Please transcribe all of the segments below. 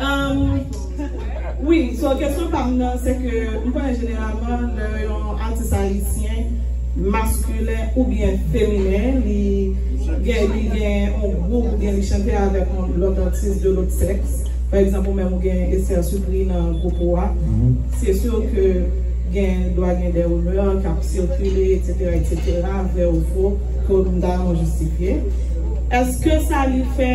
Umm wi so kesyon pam nan se ke m konnen jeneralman lè yon atis ayisyen maskilen oubyen feminen li gen li gen yon gwoup oubyen li chante avèk yon lòt atis de lòt sèks pa egzanp ou menm ou gen Esther Supri nan gwoup ou a se sur ke gen dwa gen de rumeur kap sikile etsetera etsetera vrè ou fo ke ou ta renmen jistifye èske sa li fè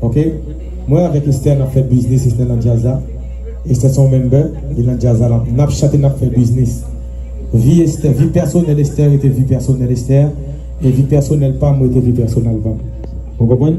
Ok mwen avèk Esther nap fè biznis Esther nan djaz la Esther son member li nan djaz la nap chante nap fè biznis vi Esther vi pèsonèl Esther rete vi pèsonèl Esther e vi pèsonèl pam rete vi pèsonèl pam ou konprann